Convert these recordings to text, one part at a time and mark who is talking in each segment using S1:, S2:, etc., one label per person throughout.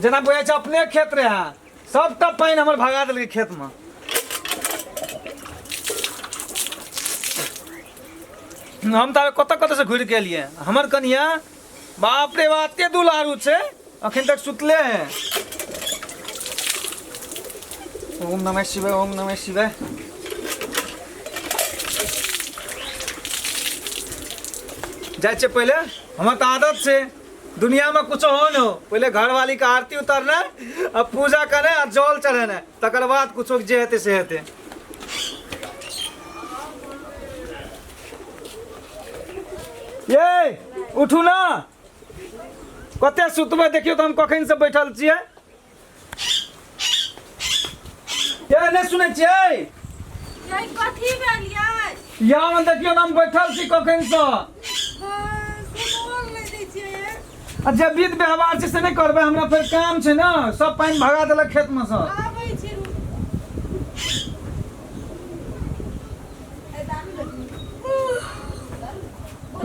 S1: जेना बुझाइ छै अपने खेत रहे हैं सबटा पानि हमर भगा देलकै खेतमे हम ताबे कतऽ कतऽ से घुरि के एलियै हमर कनिया बाप रे बाप ते दुलारू छै अखन तक सुतले है ओम नमः शिवाय ओम नमः शिवाय जाइ छै पहिले हमर तऽ आदत छै दुनियामे कुछो हो न हो पहिले घरवालीके आरती उतारनाइ आ पूजा करनाइ आ जल चढ़ेनाइ तकर बाद कुछो जे हेतै से हेतै ये उठू ना कते सुतबै देखियौ तऽ हम कखन से बैठल छियै ये नहि सुनै छियै यही कथी भेल यही यहाँ में देखियौ तऽ हम बैठल छी कखन से सुनोल नहि दै छियै आ जे विध व्यवहार छै से नहि करबै हमरा फेर काम छै ने सब पानि भगा देलक खेतमे से आबै छै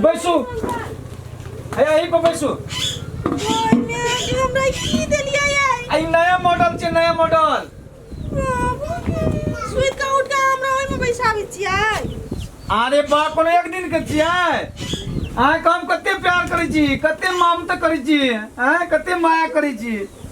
S1: बैसू हैया एही पर बैसू ओइने कि हमरा की देलियै ये आ ई नया मॉडल छै नया मॉडल सुति कऽ उठ कऽ हमरा ओहिमे बैसाबै छियै अरे बा कोनो एक दिन के छियै अहाँके हम कते प्यार करै छी कते ममता करै छी अहाँ कते माया करै छी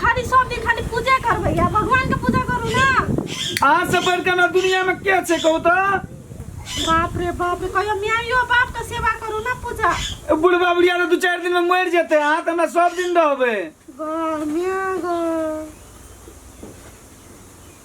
S1: खाली सब दिन खाली पूजे करबै या भगवान के पूजा करू ना आज से बढ़ के ना दुनिया में के छे कहू तो बाप रे बाप रे कहियो माइयो बाप के सेवा करू ना पूजा ए बुढ़वा बुढ़िया तो दू चार दिन में मर जेते हां त हमरा सब दिन रहबे गो मिया गो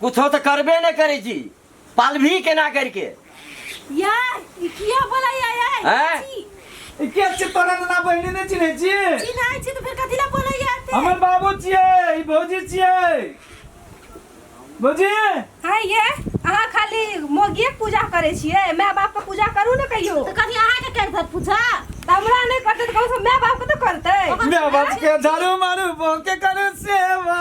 S1: कुछो तऽ करबे नहि करै छी पालभी केना करिके यार ई किया बोला यार यार हैं? छी, ई के छियै तोरा नाना बहिनी नहि चिन्है छी छी नहि छी तऽ फेर कथी लए बोला यार ते हमर बाबू छियै ई भौजी छियै भौजी हाय ये अहाँ खाली मोगिये के पूजा करै छियै माय बाप के पूजा करू ने कहियो तऽ कथी अहाँके करि देत पूछा तऽ हमरा नहि करतै तऽ कम से कम माय बाप के तऽ करतै माय बाप के झाड़ू मारू बहू के करू सेवा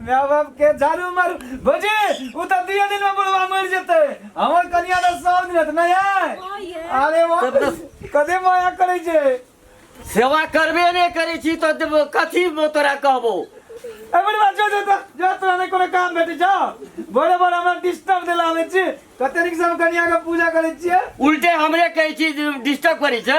S1: मैं बाप के झाड़ू मर भोजी उ त दिए दिन में बुढ़वा मर जते हमर कनिया त सौ दिन हत नहीं है अरे वाह तब तक- कदे माया करे छे सेवा करबे नहि करै छी तऽ देब- कथी तोरा कहबो ए बुढ़वा जो जो त जो तोरा ने कोनो काम भेटे जा बड़े बड़े हमरा डिस्टर्ब देला आवे छी कते निक से हम कनिया के पूजा करे छिए उल्टे हमरे कहै छी डिस्टर्ब करै छै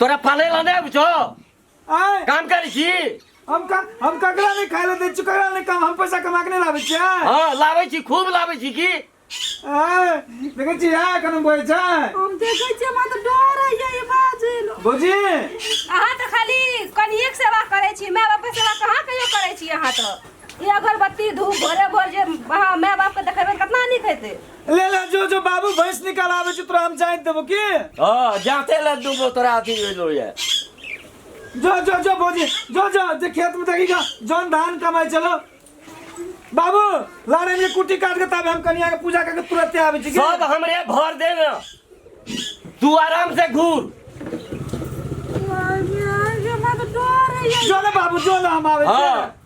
S1: तोरा पाले ला नहीं बुझो आय काम कर छी हम का हम ककरा नहीं खाए ला दे छी ककरा नहीं काम हम पैसा कमा के नहीं लाबे छी आय हाँ लावे छी खूब लावे छी की आय देखे छी आय कने बोए छै हम देखै छियै हमरा तऽ डर होइए ई बाजल बोजी अहाँ तऽ खाली कनिएक सेवा करै छी माय बापके सेवा कहाँ कहियो करै छी अहाँ तऽ ई अगरबत्ती धूप भोरे भोर जे अहाँ माय बापके देखेबै कतना नीक हेतै ले ले जो जो बाबू भैंस निकाल आवे छै तोरा हम जाय देबो की हाँ जाते ले दूबो तोरा अथी भेलो ये जो जो जो भौजी जो जो जे खेत में देखी जा जौन धान कमाय चलो बाबू लाड़े में कुटी काट के तब हम कनिया के पूजा करके तुरंत आवे छी की? सब हमरे भर दे ना तू आराम से घूर जो ले बाबू जो ले हम आवे हाँ छी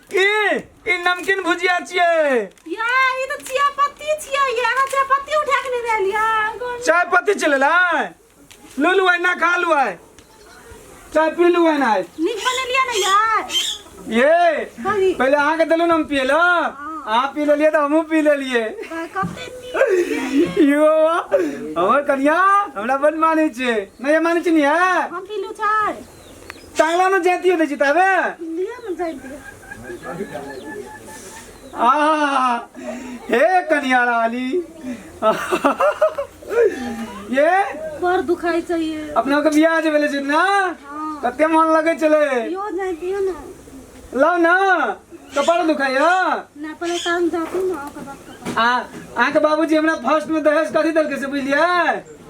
S1: की ई नमकीन भुजिया छियै या ई तऽ चिया पत्ती छियै ये अहाँ चिया पत्ती उठा के लेने एलियै गोल चाय पत्ती चले लाई लू लू ना खा लू आय चाय पी लू आय ना नीक बनेलियै ने यार ये बड़ी पहले अहाँ के देलू ना हम पिए ला अहाँ पी लेलिए तो हमहूँ पी लेलिए कते नीक यो हमर कनिया हमरा बन मानै छै नहि मानै छै ने हम पीलू चाय तांगला में जाती होते जितावे इंडिया में जाए दिया आहा, हे कनिया रानी ये पर दुखाई चाहिए अपना के बियाह जे भेले छै ना हाँ कते मन लगे चले यो जाए दिया ना लाओ ना कपार दुखाइया ना पहले काम जाती ना ओकर बाद कपार। आ अहाँके बाबूजी हमरा फर्स्ट में दहेज कथी देलकै से बुझलियै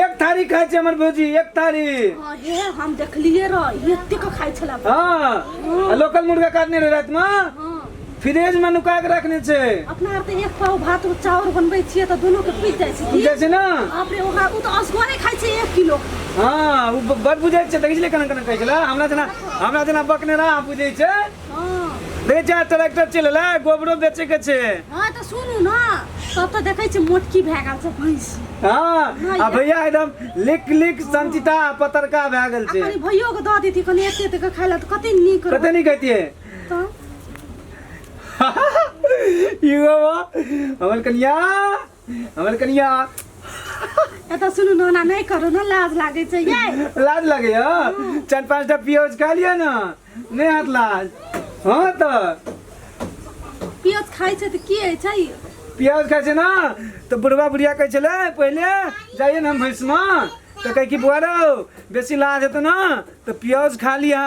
S1: एक थारी खाइ छै हमर भौजी एक थारी हाँ, हे हम देखलिए रह ये एतेक खाइ छला हाँ आ लोकल मुर्गा काटने रहे रात में हाँ फ्रिज में नुका के रखने छै अपना आर तऽ एक पाव भात और चाउर बनबै छियै तऽ दुनू के पीस जाइ छै की? बुझै छै ना बाप रे ओकरा ओ तऽ असगरे खाइ छै एक किलो हाँ उ ब- बड़ बुझै छै देखै छलै केना केना कहै छलै हमरा जेना हमरा जेना बकने रहा बुझै छै देखै छियै ट्रैक्टर चलि एलै गोबरो बेचैके छै हाँ तऽ सुनू ने तब तऽ देखै छियै मोटकी भए गेल छै भैंसी हाँ आ भैया एकदम लिक लिक संचिता पतरका भए गेल छै कनी भैयो के दऽ देती कनी एते एते के खाय लए तऽ कते नीक कते नीक कहितियै तऽ इहो हमर कनिया हमर कनिया एतऽ सुनू ने ओना नहि करू ने लाज लागै छै ये लाज लगे हो चार पांच टा पियोज खा लिया ना नहीं हाथ लाज हाँ तो पियोज खाइ छै तऽ की होइ छै पियाज खाए छै ना तो बुढ़वा बुढ़िया कहै छले पहले जाइए ना हम भैंस में तो कहे कि बुआरो बेसी लाज हेतौ ना तो पियाज खा लिहा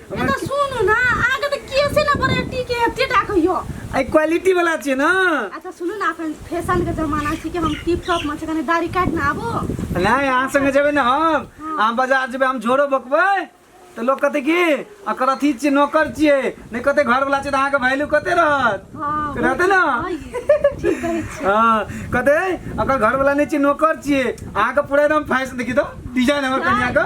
S1: हमरा तऽ सुनू ने अहाँके तऽ केसे ने बरेटी के एते टा कहियो आई क्वालिटी वाला छियै ना अच्छा सुनू ना अपन फैशन के जमाना छी कि हम टिप टॉप में छी कने दाढ़ी काट ना आबो नहीं अहाँ संगे जेबै ना हम अहाँ बाजार जेबै हम झोरो बकबै तऽ लोक कहतै कि एकर अथी छियै नौकर छियै नहि कहतै घरवला छियै तऽ अहाँके वैल्यू कते रहत हाँ रहतै ना हाँ, ठीक कहै छी हाँ कहतै एकर घरवला नहि छियै नौकर छियै अहाँके पूरा एकदम फैशन देखी दो डिजाइन हमर कनिया के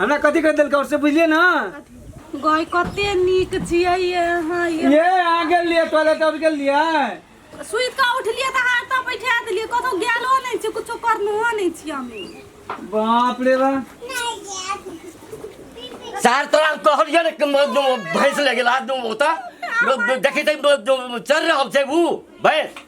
S1: हमरा कथी कर देलकै और से बुझलिए ना गई कते नीक छियै ये हाँ ये ये आ गेल लिए टॉयलेट और गेल लिए सुइत का उठलिए तऽ हाथ तऽ बैठा देलिए कतौ गेलो नहि छै कुछो करनो नहि छी हम बाप रे बा सार तोरा कहलिए ने कि म- जो भैंस लगे ला दूँ होता देखी तै चल रहा अब से वो भैंस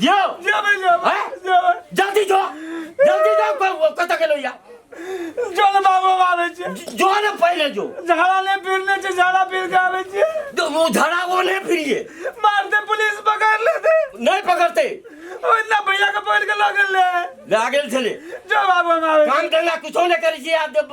S1: जियो जियो भाई जियो हैं? जियो भाई। जल्दी जो जल्दी जो क- कत गेलो या चल बाबू आबै छै जो ने पहिले जो झाड़ा नहि फिरने छै झाड़ा फिर के आबै छै जो वो झड़ा वो नहीं फिरिए मारते पुलिस पकड़ लेते नहीं पकड़ते ओहिना भैया के पकड़ के लऽ गेल रहे ले आ गेल छले जो बाबू हम आबै छी। काम धंधा कुछो नहीं करी छी आब जब